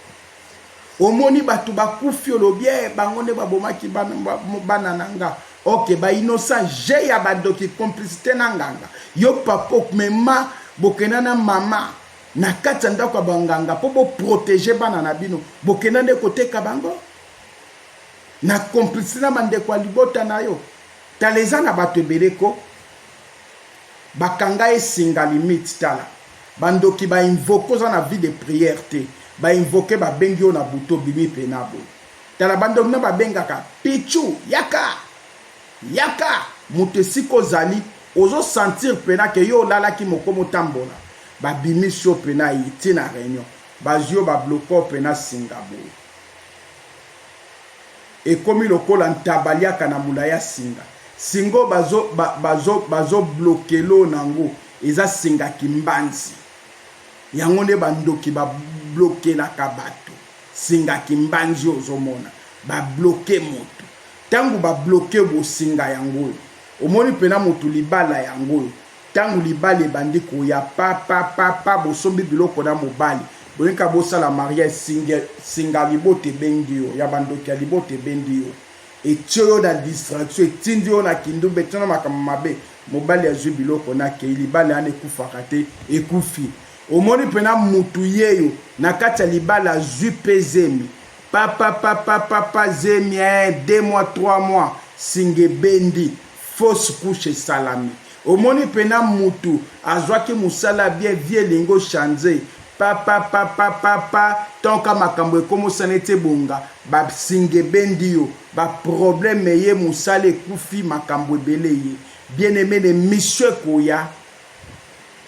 A: omoni bato bakufi olobi e bango nde babomaki bana na nga ok ba innocent je ya badoki complicité na nganga yo papa okumema bokenda na mama na kati ya ndako ya banganga mpo boprotege bana na bino bokenda nde koteka bango na complicité na bandeko ya libota na yo tala eza na bato ebele ko bakanga esinga limite tala Ba ndoki ba invoque oza na vie de prière te ba invoque ba bengi yo na butu obimi pena boye tala ba ndoki na ba bengaka pitshou yaka yaka mutu esika ozali ozo sentir pena ke yo olalaki mokomi otambola ba bimisi yo pena yy ti na reunion bazui yo ba bloque yo pena singa boye. Ekomi lokola ntaba liaka na mula y'a singa singo bazo bazo bazo blokeloo nango eza singa kimbanzi yango nde ba ndoki ba blokelaka batu singa kimbanzi oyo ozo mona ba bloke mutu tangu ba bloke bo singa yango oyo omoni pena mutu libala yango oyo Tangu libala ebandi koya pa pa pa pa bosombi biloko na mobali boye kaka bosala mariage singe singa libota ebendi yo ya ba ndoki ya libota ebendi yo etie yo na distraction etindi yo na kindumba etie yo na makambo mabe mobali azui biloko na keyi libala yana ekufaka te ekufi omoni pena mutu yeyo na kati ya libala azui pe zemi pa pa pa pa pa pa zemi ee deux mois trois mois singa ebendi fausse couche esalami omoni pena mutu azwaki musala bien vie elingi o change papapapapapa ton ka makambo ekomosa neti ebonga ba singa ebendi yo ba problème eye musala ekufi makambo ebele eye bien aime na emission ekoya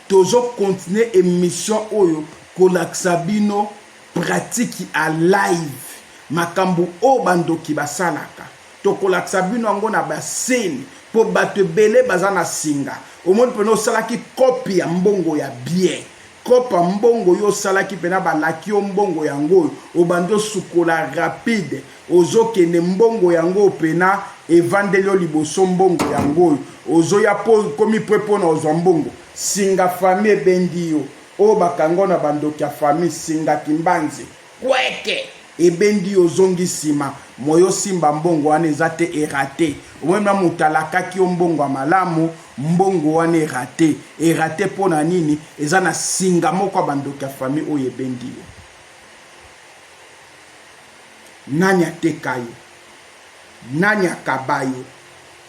A: tozo continue emission oyo kolakisa bino pratique a live makambo oyo bandoki basalaka tokolakisa bino yango na bascene mpo bato ebele baza na singa omoni mpena osalaki kope ya mbongo ya bien kopa mbongo yo osalaki mpena balaki yo mbongo yango oyo obandi osukola rapide ozokende mbongo yango oyo mpena evandeli yo liboso mbongo yango oyo ozoya mpo okomi mpo mpona ozwa mbongo singa fami ebengi yo oyo bakango na bandoki ya fami singa kimbanzi Kweke ebendi yo ozongi sima moye osimba mbongo wana eza te erate omoni na moto alakaki yo mbongo ya malamu mbongo wana erate erate mpo na nini eza na singa moko ya bandoki ya famille oyo ebendi yo nani ateka yo nani akaba yo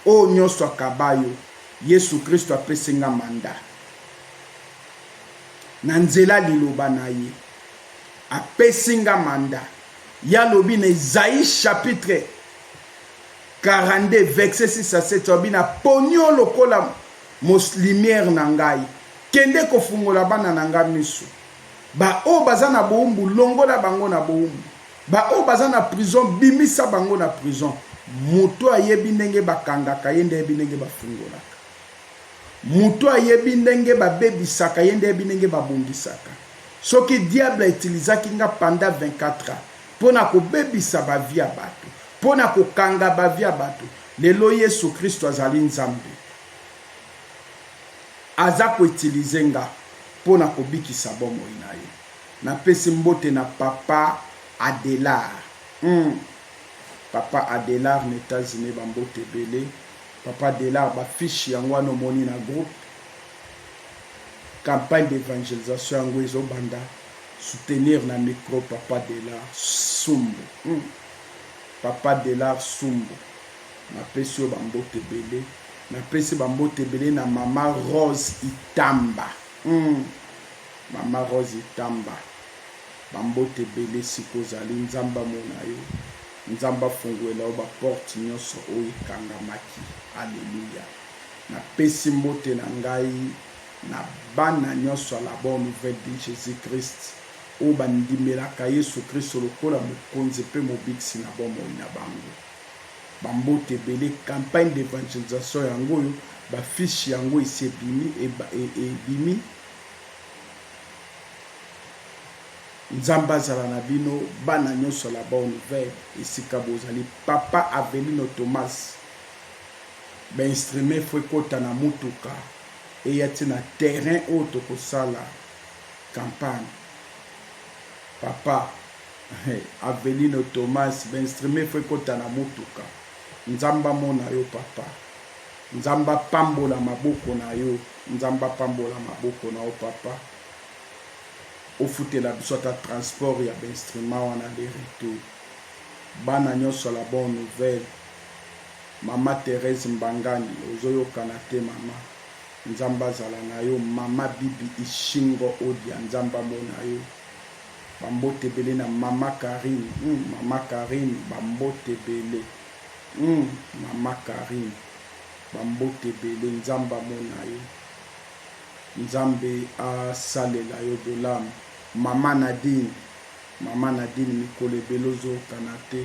A: oyo nyonso akaba yo yesu kristo apesi nga manda na nzela liloba na ye Apesi nga mandat. Ye alobi na Esaïe chapitre 42 verset 6 à 7 alobi na poni yo lokola lumière na ngai. Kende kofungola bana na ngai misu. Baoyo baza na boumbu longola bango na boumbu. Baoyo baza na prison bimisa bango na prison. Moto ayebi ndenge bakangaka ye nde ayebi ndenge bafungolaka. Moto ayebi ndenge babebisaka ye nde ayebi ndenge babongisaka. Soki diable a utilisaki nga pendant 24 ans pona ko bebisa ba vie ya batu, pona ko kanga ba vie ya batu, lelo yesu christu azali nzambe aza ko utiliser nga pona ko bikisa bomoi na ye. Na pesi mbote na papa Adelard. Hum papa Adelard na Etats-Unis ba mbote ebele. Papa Adelard ba fiche yango wana omoni na groupe. Campagne d'evangelisation yango ezo banda soutenir na micro papa Delard Sumbu. Hmm. Papa Delard Sumbu. Napesi yo bambote ebele. Napesi bambote ebele na mama Rose Itamba. Hmm. Mama Rose Itamba. Bambote ebele siko ozali Nzambe amona yo. Nzambe afunguela yo baporte nyonso oyo ekangamaki. Aleluya. Napesi mbote na ngai na bana nyonso ya la Bonne Nouvelle de Jesus Christ oyo bandimelaka Yesu Kristo lokola Mokonzi mpe Mobikisi na bomoi na bango. Bambote ebele, Campagne d'evangelisation yango oyo, ba fiches yango esi ebimi, ebimi. Nzambe azala na bino bana nyonso ya la Bonne Nouvelle esika bozali. Papa Avelino Thomas. Ba instrument il faut ekota na mutuka eya ti na terrain oyo toko sala campagne papa Avelino Thomas ba instrument il faut ekota na mutuka Nzambe amona yo papa Nzambe apambola maboko na yo Nzambe apambola maboko na yo papa ofutela biso ata transport ya ba instrument wana de retour bana nyonso la bonne nouvelle Maman Therèse Mbangani ozo yokana te maman nzambe azala na yo maman Bibi Ishingo Odia nzambe amona yo ba mbote ebele na maman Carine hum maman Carine ba mbote ebele hum maman Carine ba mbote ebele nzambe amona yo nzambe asalela yo bolamu maman Nadine maman Nadine mikolo ebele ozo yokana te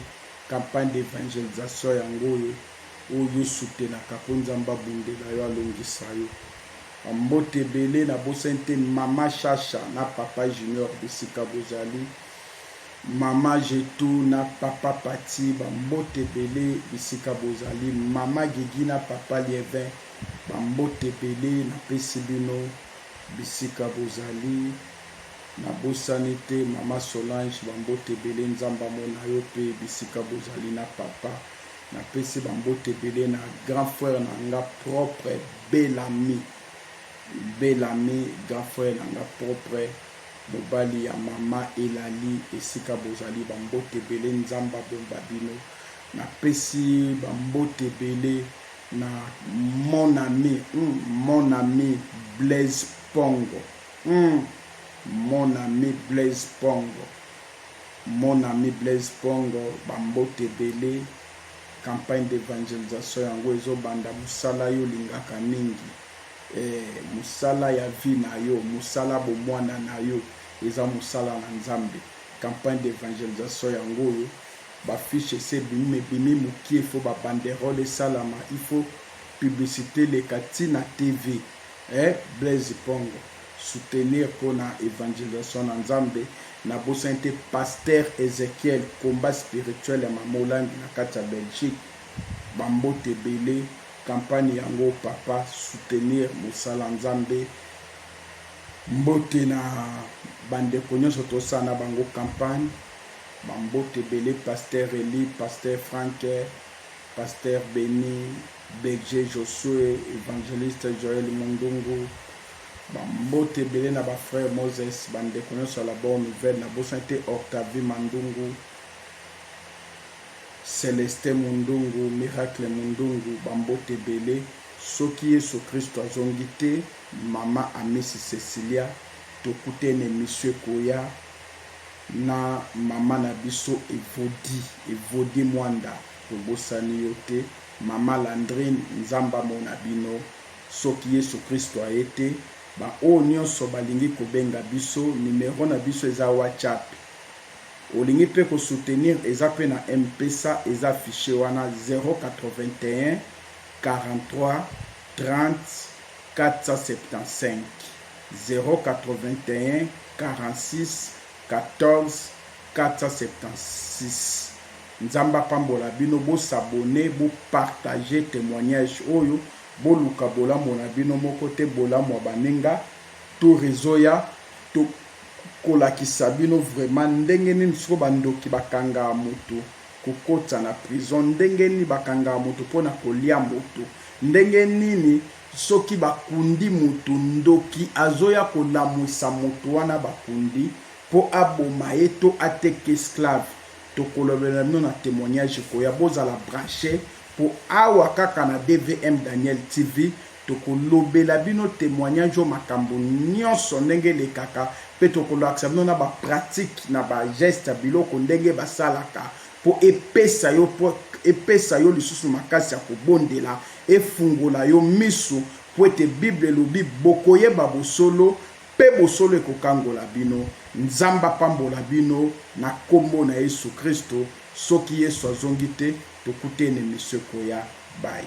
A: Campagne d'evangelisation yango oyo oyo yo soutenaka po nzambe abundela yo alongisa yo ba mbote ebele na bosani te maman shasha na papa junior bisika bozali maman jetu na papa pati ba mbote ebele bisika bozali maman gigi na papa lievin ba mbote ebele na pesi bino bisika bozali Na bosani te maman Solange ba mbote ebele nzambe amona yo pe bisika bozali na papa na pesi ba mbote ebele na grand frère na nga propre Bellamy Bellamy grand frère na nga propre mobali ya maman Elali esika bozali ba mbote ebele nzambe abomba bino na pesi ba mbote ebele na mon ami hum mon ami Blaise Pongo Hum mon ami Blaise Pongo mon ami Blaise Pongo ba mbote ebele campagne d'evangelisation yango ezo banda musala yo lingaka mingi eh musala ya vie na yo musala bo muana na yo eza musala na Nzambe campagne d'evangelisation yango oyo ba fiche esi ebimi mais ebimi mukie faut ba banderole esalama il faut publicite eleka ti na TV Eh Blaise Pongo soutenir pona evangelisation na Nzambe na bosani te pasteur Ezechiel combat spirituel ya mama olangi na kati ya Belgique ba mbote ebele campagne yango papa soutenir mosala Nzambe mbote na ba ndeko nionso tosala na bango campagne ba mbote ebele pasteur Elie pasteur Franck pasteur Beni Berger Josue, Evangeliste Joel Mundungu, ba mbote ebele na ba frère Moses, ba ndeko nyonso ya la bonne nouvelle, na bosani te Octavie Mandungu, Celestin Mundungu, Miracle Mundungu, ba mbote ebele. Soki Yesu Kristo azongi te, mama Amisi Cecilia, tokutene emission ekoya na mama na biso Evodi, Evodi Mwanda. Tobosani yo te maman Landrine nzambe amona bino soki yesu christu aye te ba oyo nionso balingi kobenga biso numero na biso eza watshap olingi pe ko soutenir eza pe na mpesa eza affiche wana 081430475 08146144766 Nzambe apambola bino bo s'abonner bo partager temoignage oyo boluka bolamu na bino moko te bolamu ya baninga tour ezoya to kolakisa bino vraiment ndenge nini sikoyo ba ndoki bakanga mutu kokotisa na prison ndenge nini bakanga mutu pona kolia mutu ndenge nini soki bakundi mutu ndoki azoya kolamuisa mutu wana bakundi po aboma ye to ateka esclave Tokolobela bino na temoignage ekoya bozala branche po awa kaka na DVM Daniel TV tokolobela bino temoignage oyo makambo nionso ndenge elekaka pe tokolakisa bino na ba pratique na ba geste biloko ndenge basalaka po epesa yo po epesa yo lisusu makasi ya kobondela efungola yo misu po ete bible elobi bokoyeba bosolo Mpe bosolo ekokangola bino. Nzambe apambola bino na kombo na yesu christo soki yesu azongi te tokutene misu ekoya bye.